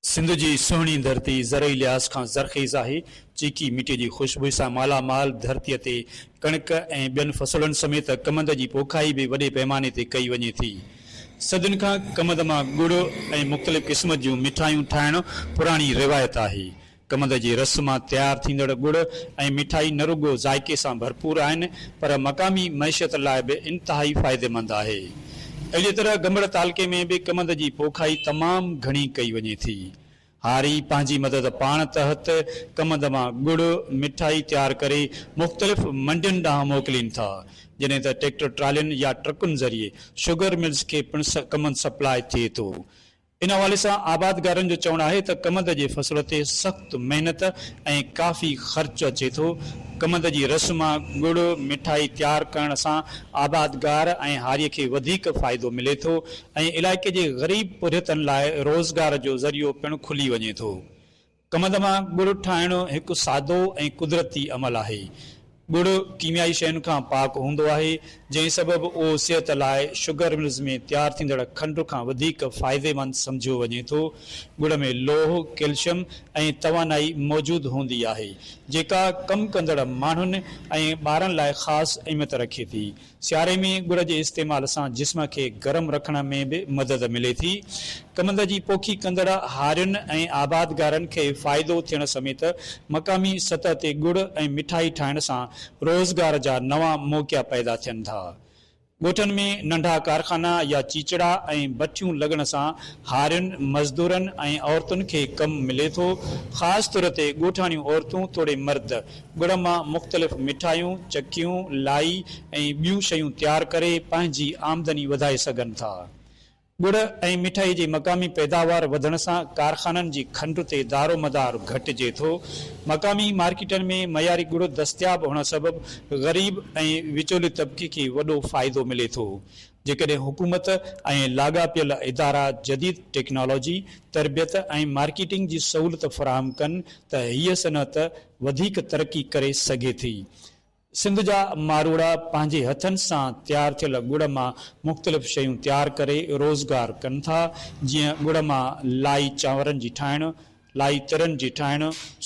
سنڌ جي سهڻي ڌرتي زرعي لحاظ کان زرخيز آهي. چيڪي مٽي جي خوشبوء سان مالا مال ڌرتي تي ڪڻڪ ۽ ٻين فصلن سميت ڪمند جي پوکائي به وڏي پيماني تي ڪئي وڃي ٿي. صدين کان ڪمند مان ڳڙ ۽ مختلف قسم جون مٺايون ٺاهڻ پراڻي روايت آهي. ڪمند جي رس مان تيار ٿيندڙ ڳڙ ۽ مٺائي نه رڳو ذائقي سان ڀرپور آهن پر مقامي معيشت لاء به انتهائي فائديمند آهي. اهڙيء طرح گمڙ تعلقي ۾ به ڪمند جي پوکائي تمام گهڻي ڪئي وڃي ٿي. هاري پنهنجي مدد پاڻ تحت ڪمند مان ڳڙ مٺائي تيار ڪري مختلف منڊين ڏانهن موڪلين ٿا جڏهن ته ٽيڪٽر ٽرالين يا ٽرڪن ذريعي شگر ملز کي پڻ ڪمند سپلاء ٿئي ٿو ان حوالي سان آبادگارن جو چوڻ آهي ته ڪمند جي فصل تي سخت محنت ۽ ڪافي خرچ اچي ٿو، ڪمند جي رس مان ڳڙ، مٺائي تيار ڪرڻ سان آبادگار ۽ هاري کي وڌيڪ فائدو ملي ٿو ۽ علائقي جي غريب پورهيتن لاء روزگار جو ذريعو پڻ کلي وڃي ٿو. کمند مان ڳڙ ٺاهڻ هڪ سادو ۽ قدرتي عمل آهي. ڳڙ ڪيميائي شين کان پاڪ هوندو آهي، جنهن سبب اهو صحت لاء شگر ملز ۾ تيار ٿيندڙ کنڊ کان وڌيڪ فائديمند سمجهيو وڃي ٿو. ڳڙ ۾ لوهه، ڪيلشم ۽ توانائي موجود هوندي آهي، جيڪا ڪم ڪندڙ ماڻهن ۽ ٻارن لاء خاص اهميت رکي ٿي. سياري ۾ ڳڙ جي استعمال سان جسم کي گرم رکڻ ۾ به مدد ملي ٿي. ڪمند جي پوکي ڪندڙ هارين ۽ آبادگارن کي فائدو ٿيڻ سميت مقامي سطح تي ڳڙ ۽ مٺائي ٺاهڻ سان روزگار جا نوان موقعا پيدا ٿين ٿا. ڳوٺن ۾ ننڍا ڪارخانا يا چيچڙا ۽ بٺيون لڳڻ سان هارين، مزدورن ۽ عورتن کي ڪم ملي ٿو. خاص طور تي ڳوٺاڻيون عورتون توڙي مرد ڳڙ مان مختلف مٺايون، چڪيون، لائي ۽ ٻيون شيون تيار ڪري پنهنجي آمدني وڌائي سگهن ٿا. ڳڙ ۽ مٺائي جي مقامي پيداوار وڌڻ سان ڪارخانن جي کنڊ تي دارومدار گهٽجي ٿو. مقامي مارڪيٽن ۾ معياري ڳڙ دستياب هئڻ سبب غريب ۽ وچولي طبقي کي وڏو فائدو ملي ٿو. جيڪڏهن حڪومت ۽ لاڳاپيل ادارا جديد ٽيڪنالاجي، تربيت ۽ مارڪيٽنگ جي سهولت فراهم ڪن ته هيء صنعت وڌيڪ ترقي ڪري سگهي ٿي. سنڌ جا ماروئڙا پنهنجي هٿن سان تيار ٿيل ڳڙ مان مختلف شيون تيار ڪري روزگار ڪن ٿا، جيئن ڳڙ مان لائي چانورن جي ٺاهڻ، لائي ترن جي ٺاهڻ،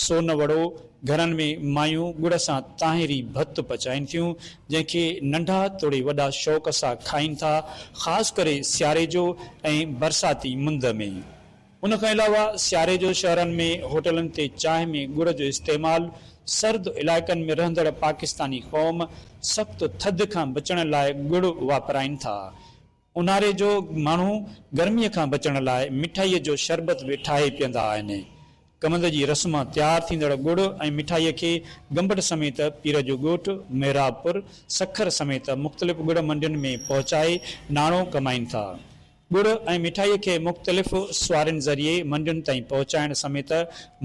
سون وڙو، گهرن ۾ مايون ڳڙ سان طاهري ڀت پچائين ٿيون، جنهن کي ننڍا توڙي وڏا شوق سان کائين ٿا، خاص ڪري سياري جو ۽ برساتي مند ۾. ان کان علاوه سياري جو شهرن ۾ هوٽلن تي چانهه ۾ ڳڙ جو استعمال سرد علائقن ۾ رهندڙ پاڪستاني قوم سخت ٿڌ کان بچڻ لاء ڳڙ واپرائين ٿا. اونهاري جو ماڻهو گرمي کان بچڻ لاء مٺائي جو شربت به ٺاهي پيئندا آهن. ڪمند جي رس مان تيار ٿيندڙ ڳڙ ۽ مٺائي کي گمبٽ سميت پير جو ڳوٺ محراب پور سکر سميت مختلف ڳڙ منڊين ۾ پهچائي ناڻو ڪمائين ٿا. ڳڙ ۽ مٺائيء کي مختلف سوارين ذريعي منڊين تائين پهچائڻ سميت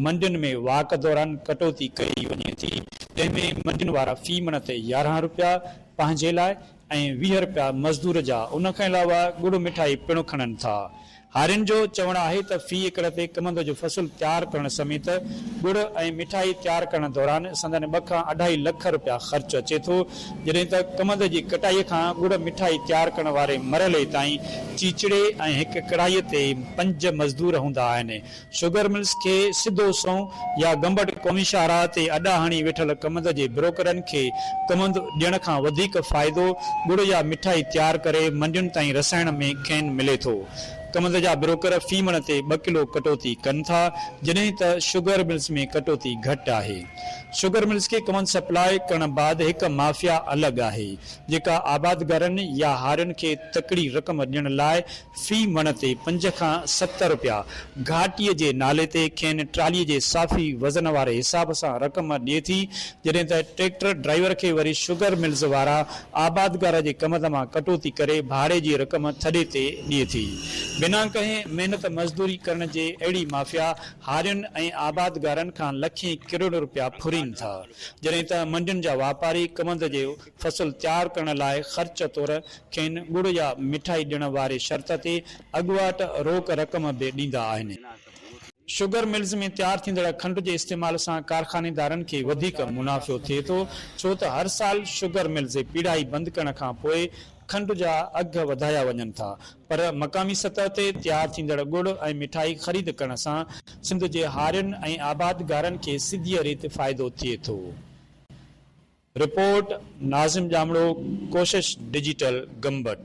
منڊين ۾ واڪ دوران ڪٽوتي ڪئي وڃي ٿي، جنهن ۾ منڊين وارا في مڻ تي يارهن رپيا پنهنجي لاء ۽ ويهه رپيا مزدور جا ان کان علاوه ڳڙ مٺائي پڻ کڻن ٿا. هارين جو چوڻ آهي ته في ايڪڙ تي ڪمند جو فصل تيار ڪرڻ سميت ڳڙ ۽ مٺائي تيار ڪرڻ دوران سندن ٻه کان اڍائي لک رپيا خرچ اچي ٿو، جڏهن ته ڪمند جي ڪٽائي کان ڳڙ مٺائي تيار ڪرڻ واري مرحلي تائين چيچڙي ۽ هڪ ڪڙائي تي پنج مزدور هوندا آهن. شوگر ملز کي سڌو سنئون يا گمبٽ قومي شاهراهه تي اڏا هڻي ويٺل ڪمند جي بروڪرن کي ڪمند ڏيڻ کان وڌيڪ فائدو ڳڙ يا مٺائي تيار ڪري منڊين تائين رسائڻ ۾ کين ملي ٿو. ڪمند جا بروڪر في مڻ تي ٻه ڪلو ڪٽوتي ڪن ٿا جڏهن ته شوگر ملز ۾ ڪٽوتي گهٽ آهي. شگر ملز کي ڪون سپلاء ڪرڻ بعد هڪ مافيا الڳ آهي جيڪا آبادگارن يا هارين کي تڪڙي رقم ڏيڻ لاء في مڻ تي پنج کان ست رپيا گهاٽي جي نالي تي کين ٽرالي جي صافي وزن واري حساب سان رقم ڏي ٿي جڏهن ته ٽريڪٽر ڊرائيور کي وري شگر ملز وارا آبادگار جي ڪمند مان ڪٽوتي ڪري ڀاڙي جي رقم ٿڏي تي ڏي ٿي بنا ڪنهن محنت مزدوري ڪرڻ جي اهڙي مافيا هارين ۽ آبادگارن کان لکين ڪروڙين روپيا ڦرين ٿا، جڏهن ته منڊين جا واپاري ڪوند جي فصل تيار ڪرڻ لاء خرچ طور کين ڳڙ يا مٺائي ڏيڻ واري شرط تي اڳواٽ روڪ رقم به ڏيندا آهن. شگر ملز ۾ تيار ٿيندڙ کنڊ جي استعمال سان ڪارخانيدارن کي وڌيڪ منافعو ٿئي ٿو، ڇو ته هر سال شگر ملز پيڙهائي بند ڪرڻ کان پوء کنڊ جا اگهه وڌايا وڃن ٿا پر مقامي سطح تي تيار ٿيندڙ ڳڙ ۽ مٺائي خريد ڪرڻ سان سنڌ جي هارين ۽ آبادگارن کي سڌيء ريت فائدو ٿئي ٿو. رپورٽ، ناظم ڄامڙو، ڪوشش ڊجيٽل، گمبٽ.